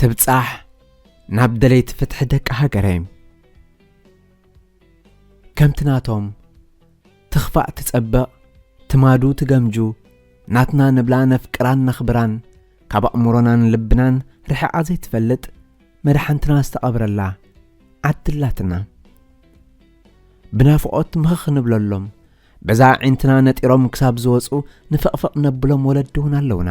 ትብጻሕ ናብ ደለይቲ ፍትሒ ደቂ ሃገረይ። ከምቲ ናቶም ትኽፋእ ትጸብቕ ትማዱ ትገምጁ ናትና ንብላ ነፍቅራን ነኽብራን ካብ ኣእምሮናን ልብናን ርሒቓ ዘይትፈልጥ መድሓንትና ዝተቐብረላ ዓዲ ኣላትና ብናፍቖት ምኽኽ ንብለሎም በዛ ኣዒንትና ነጢሮም ክሳብ ዝወፁ ንፍቕፍቕ ነብሎም ወለዲ እውን ኣለውና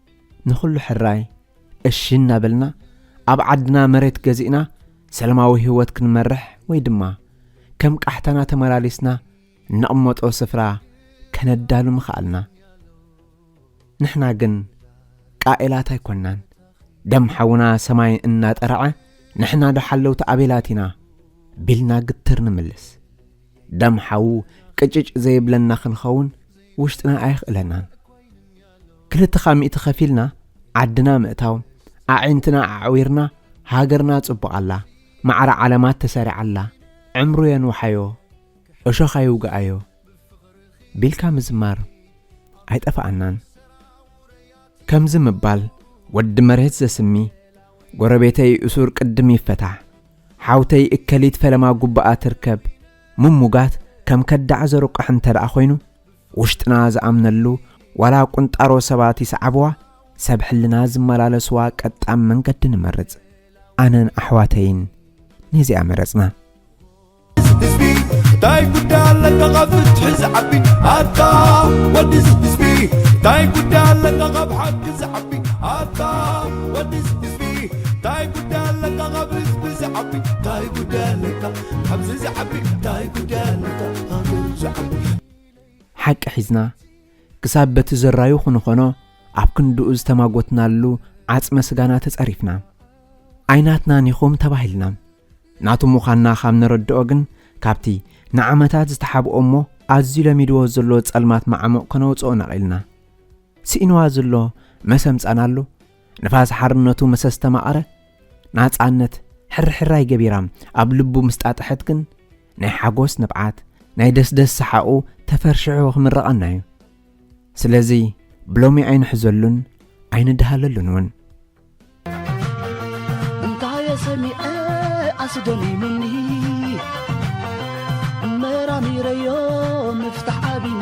ንኹሉ ሕራይ እሺ እናበልና ኣብ ዓድና መሬት ገዚእና ሰላማዊ ህይወት ክንመርሕ ወይ ድማ ከም ቃሕታና ተመላሊስና እንቕመጦ ስፍራ ከነዳሉ ምኸኣልና። ንሕና ግን ቃኤላት ኣይኮናን። ደም ሓውና ሰማይ እናጠረዐ ንሕና ዶ ሓለውቲ ኣቤላት ኢና ቢልና ግትር ንምልስ። ደም ሓው ቅጭጭ ዘይብለና ክንኸውን ውሽጥና ኣየኽእለናን። ክልተኻ ሚእቲ ከፊልና ዓድና ምእታው ኣዒንትና ኣዕዊርና ሃገርና ጽቡቅ ኣላ ማዕረ ዓለማት ተሰሪዓ ኣላ ዕምሩ የንውሓዮ እሾኽ ኣይውግኣዮ ቢልካ ምዝማር ኣይጠፋኣናን ከምዚ ምባል ወዲ መሬት ዘስሚ ጎረቤተይ እሱር ቅድም ይፈታሕ ሓውተይ እከሊት ፈለማ ጉባኣ ትርከብ ምሙጋት ከም ከዳዕ ዘሩቃሕ እንተ ደኣ ኮይኑ ውሽጥና ዝኣምነሉ ዋላ ቁንጣሮ ሰባት ይስዓብዋ ሰብ ሕልና ዝመላለስዋ ቀጣም መንገዲ ንመርጽ ኣነን ኣሕዋተይን ነዚኣ መረጽና ህዝቢ እንታይ ጉዳይ ኣለካ ካብ ፍትሒ ዝዓቢ ኣታ ወዲ ህዝቢ እንታይ ጉዳይ ኣለካ ካብ ሓቂ ዝዓቢ ኣታ ወዲ ህዝቢ እንታይ ጉዳይ ኣለካ ካብ ህዝቢ ዝዓቢ እንታይ ጉዳይ ኣለካ ኣብዚ ዝዓቢ ታይ ጉዳይ ኣለካ ሃገሩ ዝዓቢ ሓቂ ሒዝና ክሳብ በቲ ዘራዩ ክንኾኖ ኣብ ክንድኡ ዝተማጎትናሉ ዓጽመ ስጋና ተጸሪፍና ኣይናትናን ኢኹም ተባሂልና ናቱ ምዃንና ካብ ነረድኦ ግን ካብቲ ንዓመታት ዝተሓብኦ እሞ ኣዝዩ ለሚድዎ ዘሎ ጸልማት ማዓሙቕ ከነውጽኦ ነቒልና ስኢንዋ ዘሎ መሰምጻናሉ ንፋስ ሓርነቱ ምስ ኣስተማቐረ፣ ናጻነት ሕርሕራይ ገቢራ ኣብ ልቡ ምስ ጣጠሐት ግን፣ ናይ ሓጎስ ንብዓት፣ ናይ ደስደስ ሰሓቑ ተፈርሽሑ ክምርቐና'ዩ። ስለዚ ብሎሚ ኣይንሕዘሉን ኣይንደሃለሉን ውን። እንታየ ሰሚዐ ኣስደሚሙኒ መራሚረዮ ምፍታሕ ኣቢኒ።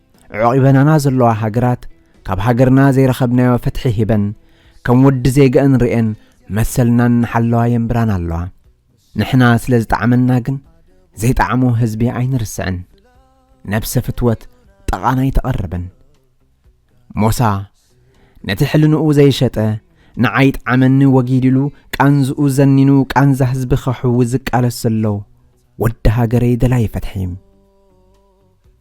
ዖቂበናና ዘለዋ ሃገራት ካብ ሃገርና ዘይረኸብናዮ ፍትሒ ሂበን ከም ወዲ ዜገኣን ርእየን መሰልና እናሓለዋ የንብራና ኣለዋ። ንሕና ስለ ዝጠዓመና ግን ዘይጠዓሞ ህዝቢ ኣይንርስዕን። ነብሰ ፍትወት ጠቓን ኣይተቐርብን። ሞሳ ነቲ ሕልንኡ ዘይሸጠ ንዓይ ጠዓመኒ ወጊድ ኢሉ ቃንዝኡ ዘኒኑ ቃንዛ ህዝቢ ከሕዊ ዝቃለስ ዘሎ ወዲ ሃገረይ ደላይ ፈትሒ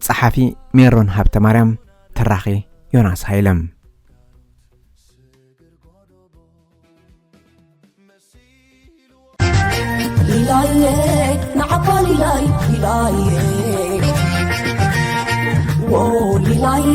ጸሓፊ ሜሮን ሃብተማርያም ተራኺ ዮናስ ሃይለ ሊላዬ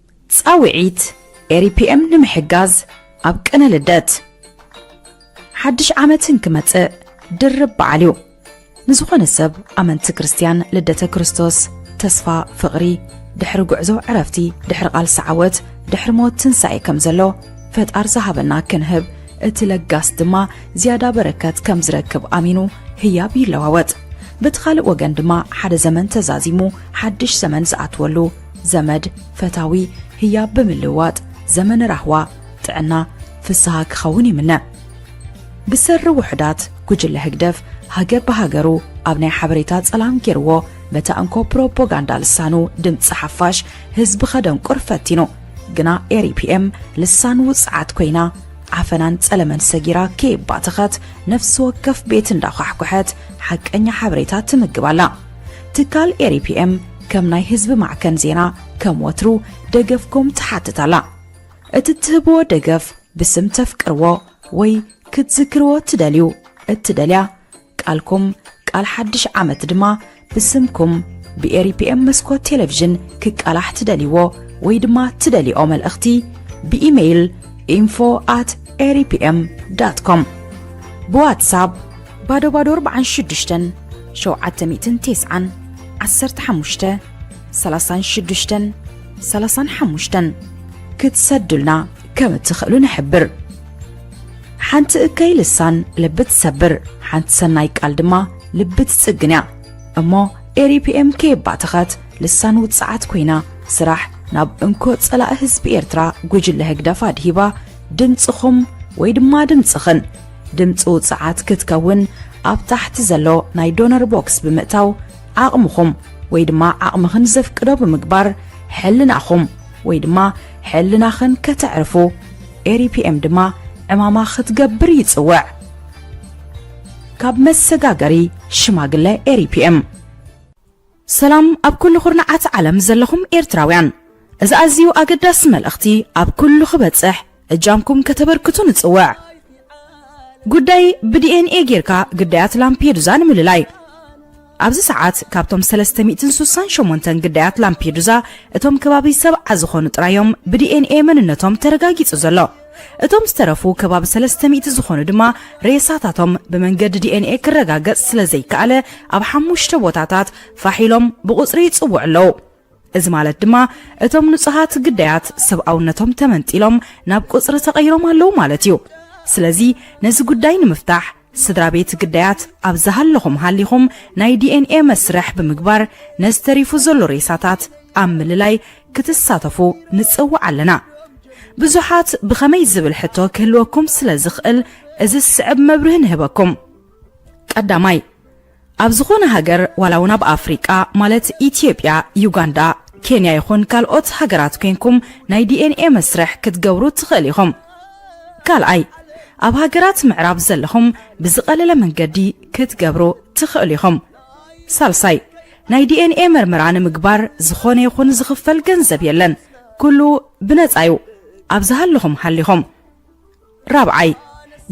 ፃውዒት ኤሪፒኤም ንምሕጋዝ ኣብ ቅነ ልደት ሓድሽ ዓመት እንክመፅእ ድርብ በዓል እዩ ንዝኾነ ሰብ ኣመንቲ ክርስትያን ልደተ ክርስቶስ ተስፋ ፍቕሪ ድሕሪ ጉዕዞ ዕረፍቲ ድሕሪ ቓልሲ ዓወት ድሕሪ ሞት ትንሳኤ ከም ዘሎ ፈጣር ዝሃበና ክንህብ እቲ ለጋስ ድማ ዝያዳ በረከት ከም ዝረክብ ኣሚኑ ህያብ ይለዋወጥ በቲ ካልእ ወገን ድማ ሓደ ዘመን ተዛዚሙ ሓድሽ ዘመን ዝኣትወሉ ዘመድ ፈታዊ ህያብ ብምልውዋጥ ዘመን ራህዋ ጥዕና ፍስሃ ክኸውን ይምነ። ብሰሪ ውሑዳት ጉጅለ ህግደፍ ሃገር ብሃገሩ ኣብ ናይ ሓበሬታ ጸላም ጌርዎ በታ እንኮ ፕሮፖጋንዳ ልሳኑ ድምጺ ሓፋሽ ህዝቢ ከደንቁር ፈቲኑ ግና ኤሪፒኤም ልሳን ውጽዓት ኮይና ዓፈናን ጸለመን ሰጊራ ከየባተኸት ነፍሲ ወከፍ ቤት እንዳዃሕኩሐት ሓቀኛ ሓበሬታ ትምግብ ኣላ። ትካል ኤሪፒኤም ከም ናይ ህዝቢ ማዕከን ዜና ከም ወትሩ ደገፍኩም ትሓትት ኣላ። እቲ እትህብዎ ደገፍ ብስም ተፍቅርዎ ወይ ክትዝክርዎ እትደልዩ እትደልያ ቃልኩም ቃል ሓድሽ ዓመት ድማ ብስምኩም ብኤሪፒኤም መስኮት ቴሌቪዥን ክቃላሕ ትደልይዎ ወይ ድማ ትደልይኦ መልእኽቲ ብኢሜይል ኢንፎ ኣት ኤሪፒኤም ዳት ኮም ብዋትሳፕ ባዶ ባዶ ኣርብዓን ሽዱሽተን ሸውዓተ ሚእትን ቴስዓን ዓሰርተ ሓሙሽተ ሰላሳን ሽዱሽተን ሰላሳን ሓሙሽተን ክትሰዱልና ከም እትኽእሉ ንሕብር ሓንቲ እከይ ልሳን ልቢ ትሰብር ሓንቲ ሰናይ ቃል ድማ ልቢ ትጽግን እያ እሞ ኤሪፒኤም ከየባተኸት ልሳን ውጽዓት ኮይና ስራሕ ናብ እንኮ ጸላኢ ህዝቢ ኤርትራ ጉጅለ ህግደፍ ኣድሂባ ድምጽኹም ወይ ድማ ድምጽኽን ድምጺ ውጽዓት ክትከውን ኣብ ታሕቲ ዘሎ ናይ ዶነር ቦክስ ብምእታው ዓቕምኹም ወይ ድማ ዓቕምኽን ዘፍቅዶ ብምግባር ሕልናኹም ወይ ድማ ሕልናኽን ከተዕርፉ ኤሪፒኤም ድማ ዕማማ ክትገብር ይጽውዕ። ካብ መሰጋገሪ ሽማግለ ኤሪፒኤም ሰላም ኣብ ኩሉ ኩርናዓት ዓለም ዘለኹም ኤርትራውያን እዚ ኣዝዩ ኣገዳሲ መልእኽቲ ኣብ ኩሉ ክበጽሕ እጃምኩም ከተበርክቱ ንጽውዕ። ጉዳይ ብዲኤንኤ ጌርካ ግዳያት ላምፔዱዛ ንምልላይ ኣብዚ ሰዓት ካብቶም ሰለስተ ሚእትን ሱሳን ሸሞንተን ግዳያት ላምፔዱዛ እቶም ከባቢ ሰብዓ ዝኾኑ ጥራይ እዮም ብዲኤንኤ መንነቶም ተረጋጊጹ ዘሎ። እቶም ዝተረፉ ከባቢ ሰለስተ ሚእቲ ዝኾኑ ድማ ሬሳታቶም ብመንገዲ ዲኤንኤ ክረጋገጽ ስለ ዘይከኣለ ኣብ ሓሙሽተ ቦታታት ፋሕ ኢሎም ብቑጽሪ ይጽውዑ ኣለዉ። እዚ ማለት ድማ እቶም ንጹሃት ግዳያት ሰብኣውነቶም ተመንጢሎም ናብ ቁጽሪ ተቐይሮም ኣለዉ ማለት እዩ። ስለዚ ነዚ ጉዳይ ንምፍታሕ ስድራቤት ግዳያት ኣብ ዝሃለኹም ሃሊኹም ናይ ዲኤንኤ መስርሕ ብምግባር ነዚ ተሪፉ ዘሎ ሬሳታት ኣብ ምልላይ ክትሳተፉ ንጽውዕ ኣለና። ብዙሓት ብኸመይ ዝብል ሕቶ ክህልወኩም ስለ ዝኽእል እዚ ዝስዕብ መብርሂ ንህበኩም። ቀዳማይ፣ ኣብ ዝኾነ ሃገር ዋላ ውን ኣብ ኣፍሪቃ ማለት ኢትዮጵያ ዩጋንዳ ኬንያ ይኹን ካልኦት ሃገራት ኮንኩም ናይ DNA መስርሕ ክትገብሩ ትኽእል ኢኹም ካልኣይ ኣብ ሃገራት ምዕራብ ዘለኹም ብዝቐለለ መንገዲ ክትገብሩ ትኽእሉ ኢኹም ሳልሳይ ናይ DNA መርመራ ንምግባር ዝኾነ ይኹን ዝኽፈል ገንዘብ የለን ኩሉ ብነፃ እዩ ኣብ ዝሃለኹም ሃሊኹም ራብዓይ፣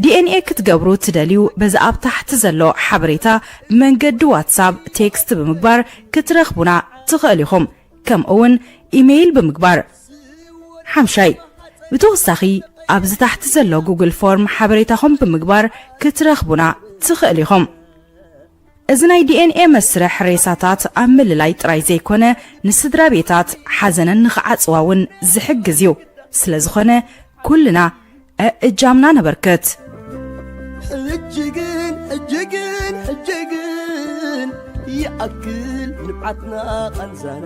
DNA ክትገብሩ ትደልዩ በዚ ኣብ ታሕቲ ዘሎ ሓበሬታ ብመንገዲ ዋትሳብ ቴክስት ብምግባር ክትረኽቡና ትኸእሉ ኢኹም ከምኡ እውን ኢመይል ብምግባር። ሓምሻይ፣ ብተወሳኺ ኣብዚ ታሕቲ ዘሎ ጉግል ፎርም ሓበሬታኹም ብምግባር ክትረኽቡና ትኸእሉ ኢኹም። እዚ ናይ ዲኤንኤ መስርሕ ሬሳታት ኣብ ምልላይ ጥራይ ዘይኮነ ንስድራ ቤታት ሓዘነን ንኽዓጽዋ እውን ዝሕግዝ እዩ። ስለዝኾነ ኩልና እእጃምና ነበርክት። ሕጂ ግን ሕጂ ግን ሕጂ ግን ይኣክል ንብዓትና ቃንዛና።